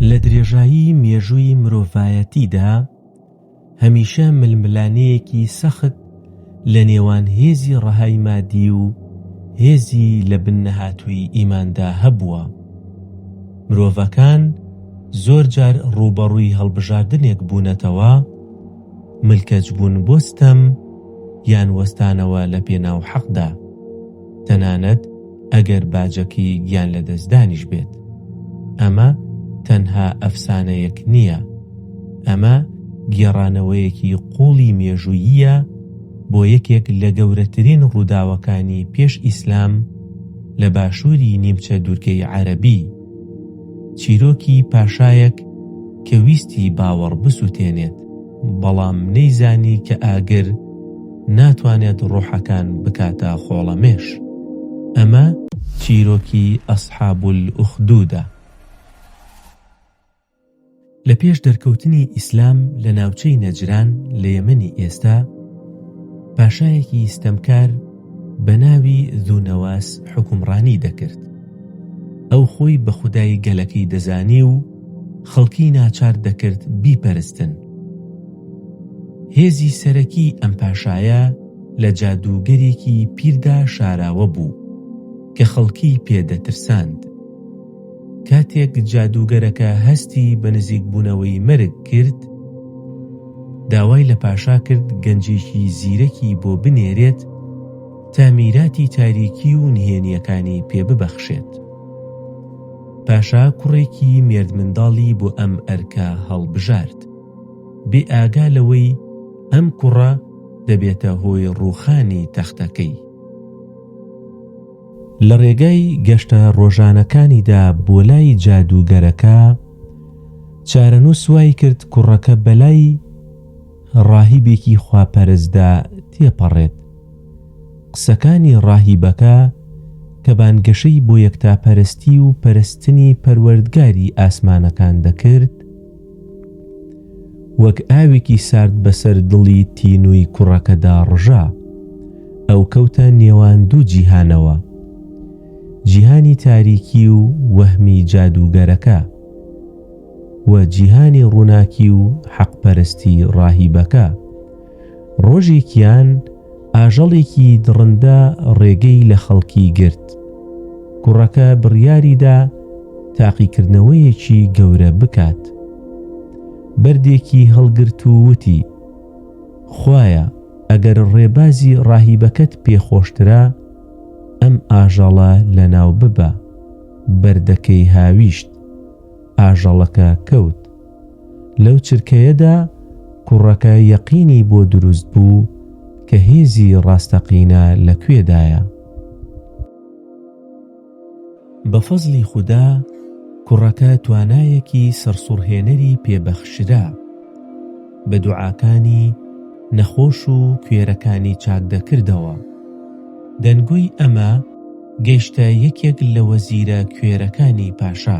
لە درێژایی مێژووی مرۆڤایەتیدا، هەمیشە ململانێیەکی سەخت لە نێوان هێزی ڕەهای مادی و هێزی لە بن نەهاتووی ئیماندا هەبووە. مرۆڤەکان زۆر جار ڕووبەڕووی هەڵبژاردنێک بوونەتەوە، ملکەچبوون بۆ ستەم یان وەستانەوە لە پێناو حەقدا. تەنانەت ئەگەر باجەکەی گیان لەدەستدانیش بێت. ئەمە تەنها ئەفسانەیەک نییە، ئەمە گێڕانەوەیەکی قووڵی مێژووییە بۆ یەکێک لە گەورەترین ڕووداوەکانی پێش ئیسلام لە باشووری نیمچە دوورگەی عەرەبی. چیرۆکی پاشایەک کە ویستی باوەڕ بسووتێنێت، بەڵام نەیزانی کە ئاگر ناتوانێت ڕۆحەکان بکاتە خۆڵەمێش. ئەمە چیرۆکی ئەسحابولئوخدودە. لە پێش دەرکەوتنی ئیسلام لە ناوچەی نەجران لە یەمەنی ئێستا پاشایەکی ئیستەمکار بە ناوی دوونەواس حکومڕانی دەکرد ئەو خۆی بە خودایی گەلەکەی دەزانی و خەڵکی ناچار دەکرد بیپەرستن هێزی سەرەکی ئەم پاشایە لە جادووگەرێکی پیردا شاراوە بوو کە خەڵکی پێدەترساند کاتێک جادووگەرەکە هەستی بە نزیکبوونەوەی مەرگ کرد، داوای لە پاشا کرد گەنجێکی زیرەکی بۆ بنێرێت تا میراتی تاریکی و نهێنییەکانی پێ ببەخشێت. پاشا کوڕێکی مێردمنداڵی بۆ ئەم ئەرکە هەڵبژارد، بێئاگا لەوەی ئەم کوڕە دەبێتە هۆی ڕووخانی تەختەکەی. لەڕێگای گەشتە ڕۆژانەکانیدا بۆلای جادووگەرەکە، چارەنووس وایکرد کوڕەکە بەلای ڕاهیبێکی خواپەرستدا تێپەڕێت. قسەکانی ڕاهیبەکە کە بانگەشەی بۆ یەکتاپەرستی و پەرستنی پەروەردگاری ئاسمانەکان دەکرد، وەک ئاوێکی سارد بەسەر دڵی تینووی کوڕەکەدا ڕژا. ئەو کەوتە نێوان دوو جیهانەوە. جیهانی تاریکی و وەهمی جادووگەرەکە و جیهانی ڕووناکی و حەقپەرستی ڕاهیبەکە. ڕۆژێکیان ئاژەڵێکی دڕندە ڕێگەی لە خەڵکی گرت. کوڕەکە بڕیاریدا تاقیکردنەوەیەکی گەورە بکات. بەردێکی هەڵگرت و وتی، خوایە ئەگەر ڕێبازی ڕاهیبەکەت پێخۆشترە، ئەم ئاژەڵە لەناو ببە. بەردەکەی هاویشت. ئاژەڵەکە کەوت. لەو چرکەیەدا کوڕەکە یەقینی بۆ دروست بوو کە هێزی ڕاستەقینە لە کوێدایە. بە فەزڵی خودا کوڕەکە توانایەکی سەرسوڕهێنەری پێ بەخشرا. بە دوعاکانی نەخۆش و کوێرەکانی چاک دەکردەوە. دەنگۆی ئەمە گەیشتە یەکێک لە وەزیرە کوێرەکانی پاشا.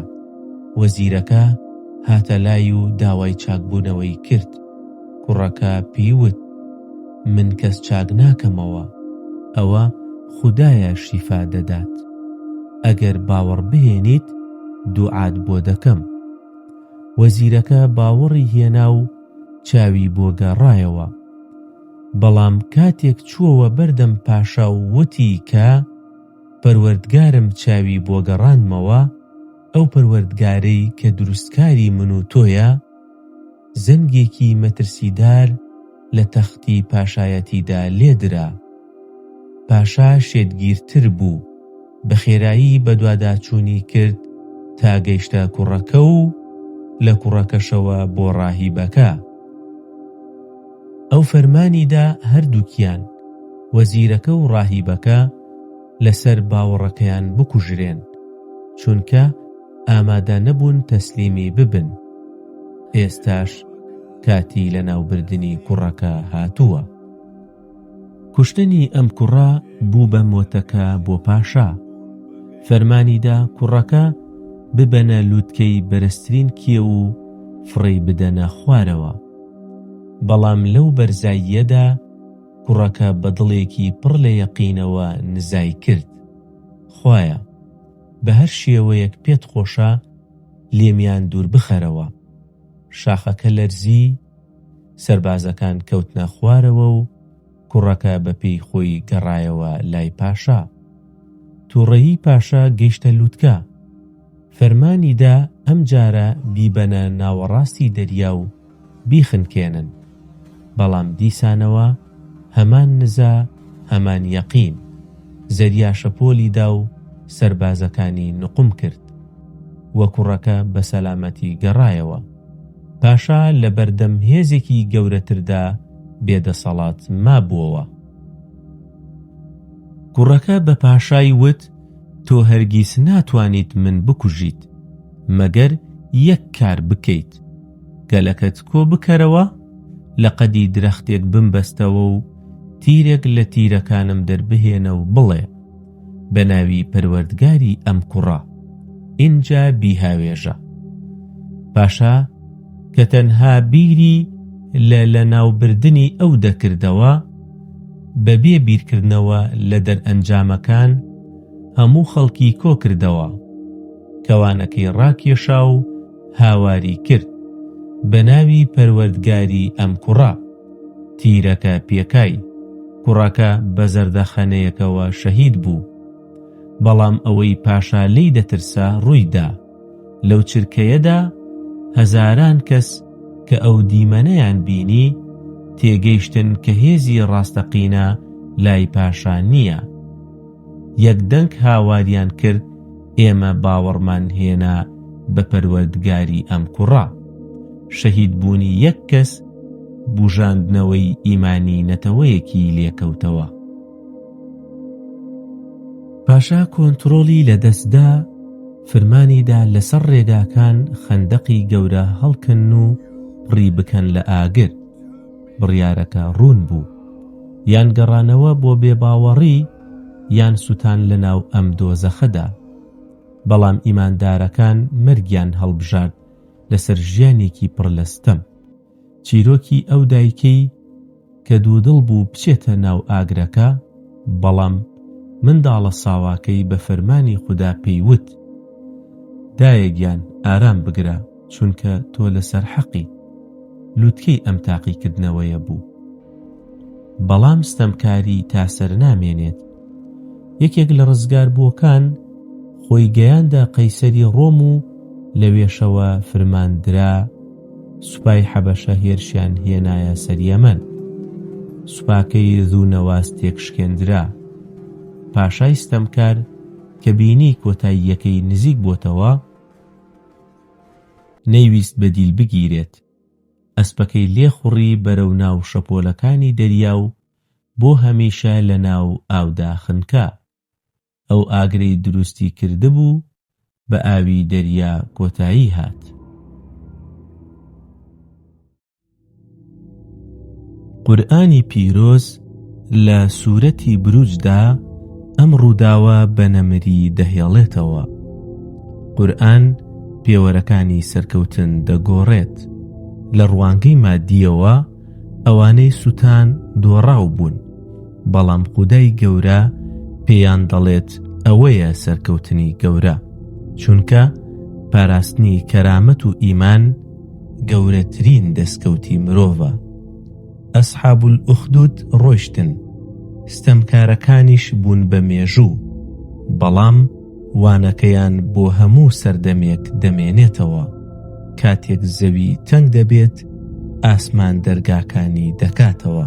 وەزیرەکە هاتە لای و داوای چاکبوونەوەی کرد. کوڕەکە پێی وت، من کەس چاک ناکەمەوە. ئەوە خودایە شیفا دەدات. ئەگەر باوەڕبهێنیت دوعات بۆ دەکەم. وەزیرەکە باوەڕی هێنا و چاوی بۆ گەڕایەوە. بەڵام کاتێک چووەوە بەردەم پاشا و وتی کە، پەروەردگارم چاوی بۆ گەڕاندمەوە، ئەو پەروەردگارەی کە دروستکاری من و تۆیە، زەنگێکی مەترسیدار لە تەختی پاشایەتیدا لێ درا. پاشا شێتگیرتر بوو، بە خێرایی بەدواداچوونی کرد تا گەیشتە کوڕەکە و لە کوڕەکەشەوە بۆ ڕاهیبەکە. ئەو فەرمانی دا هەردووکیان، وەزیرەکە و ڕاهیبەکە، لەسەر باوەڕەکەیان بکوژرێن، چونکە ئامادە نەبوون تەسلیمی ببن. ئێستاش کاتی لەناوبردنی کوڕەکە هاتووە. کوشتنی ئەم کوڕە بوو بە مۆتەکە بۆ پاشا. فەرمانی دا کوڕەکە ببەنە لووتکەی بەرزترین کێو و فڕێی بدەنە خوارەوە. بەڵام لەو بەرزاییەدا کوڕەکە بە دڵێکی پڕ لە یەقینەوە نزای کرد، خوایە، بە هەر شێوەیەک پێت خۆشە لێمیان دوور بخەرەوە. شاخەکە لەرزی، سەربازەکان کەوتنە خوارەوە و کوڕەکە بە پێی خۆی گەڕایەوە لای پاشا. تووڕەیی پاشا گەیشتە لووتکە. فەرمانی دا ئەم جارە بیبەنە ناوەڕاستی دەریا و بیخنکێنن. بەڵام دیسانەوە هەمان نزا، هەمان یەقین. زەریا شەپۆلی دا و سەربازەکانی نوقم کرد و کوڕەکە بە سەلامەتی گەڕایەوە. پاشا لە بەردەم هێزێکی گەورەتردا بێ دەسەڵات مابووەوە. کوڕەکە بە پاشای وت، تۆ هەرگیز ناتوانیت من بکوژیت، مەگەر یەک کار بکەیت، گەلەکەت کۆ بکەرەوە، لە قەدی درەختێک بمبەستەوە و تیرێک لە تیرەکانم دەربهێنە و بڵێ، بە ناوی پەروەردگاری ئەم کوڕە ئینجا بیهاوێژە پاشا کە تەنها بیری لە لەناوبردنی ئەو دەکردەوە بەبێ بیرکردنەوە لە دەرئەنجامەکان هەموو خەڵکی کۆکردەوە کەوانەکەی ڕاکێشا و هاواری کرد بە ناوی پەروەردگاری ئەم کوڕە تیرەکە پێکای کوڕەکە بە زەردەخەنەیەکەوە شەهید بوو. بەڵام ئەوەی پاشا لێی دەترسا ڕوویدا. لەو چرکەیەدا هەزاران کەس کە ئەو دیمەنەیان بینی تێگەیشتن کە هێزی ڕاستەقینە لای پاشا نییە. یەک دەنگ هاواریان کرد ئێمە باوەڕمان هێنا بە پەروەردگاری ئەم کوڕە شەهید بوونی یەک کەس بوژاندنەوەی ئیمانی نەتەوەیەکی لێکەوتەوە پاشا کۆنترۆڵی لەدەستدا فرمانیدا لەسەر ڕێگاکان خەندەقی گەورە هەڵکەن و پڕی بکەن لە ئاگر بڕیارەکە ڕوون بوو، یان گەڕانەوە بۆ بێباوەڕی یان سوتان لەناو ئەم دۆزەخەدا. بەڵام ئیماندارەکان مەرگیان هەڵبژارد لەسەر ژیانێکی پڕ لە ستەم. چیرۆکی ئەو دایکەی کە دوودڵ بوو بچێتە ناو ئاگرەکە، بەڵام منداڵە ساواکەی بە فەرمانی خودا پێی وت، دایە گیان ئارام بگرە. چونکە تۆ لەسەر حەقی لوتکەی ئەم تاقیکردنەوەیە بوو بەڵام ستەمکاری تا سەر نامێنێت یەکێک لە ڕزگار بووەکان خۆی گەیاندە قەیسەری ڕۆم و لەوێشەوە فرماندرا سوپای حەبەشە هێرشیان هێنایە سەریەمەن سوپاکەی ذوونەواز تێکشکێندرا پاشای ستەمکار کە بینی کۆتاییەکەی نزیک بۆتەوە نەیویست بە دیل بگیرێت، ئەسپەکەی لێ خوڕی بەرەو ناو شەپۆلەکانی دەریا و بۆ هەمیشە لە ناو ئاودا خنکا. ئەو ئاگرەی دروستی کردبوو، بە ئاوی دەریا کۆتایی هات. قورئانی پیرۆز لە سوورەتی بروجدا ئەم ڕووداوە بە نەمری دەهێڵێتەوە قورآن پێوەرەکانی سەرکەوتن دەگۆڕێت لە ڕوانگەی مادیەوە ئەوانەی سووتان دۆڕاو بوون بەڵام خودای گەورە پێیان دەڵێت ئەوەیە سەرکەوتنی گەورە چونکە پاراستنی کەرامەت و ئیمان گەورەترین دەستکەوتی مرۆڤە ئەسحاب ئوخدود ڕۆشتن ستەمکارەکانیش بوون بە مێژوو بەڵام وانەکەیان بۆ هەموو سەردەمێک دەمێنێتەوە کاتێک زەوی تەنگ دەبێت ئاسمان دەرگاکانی دەکاتەوە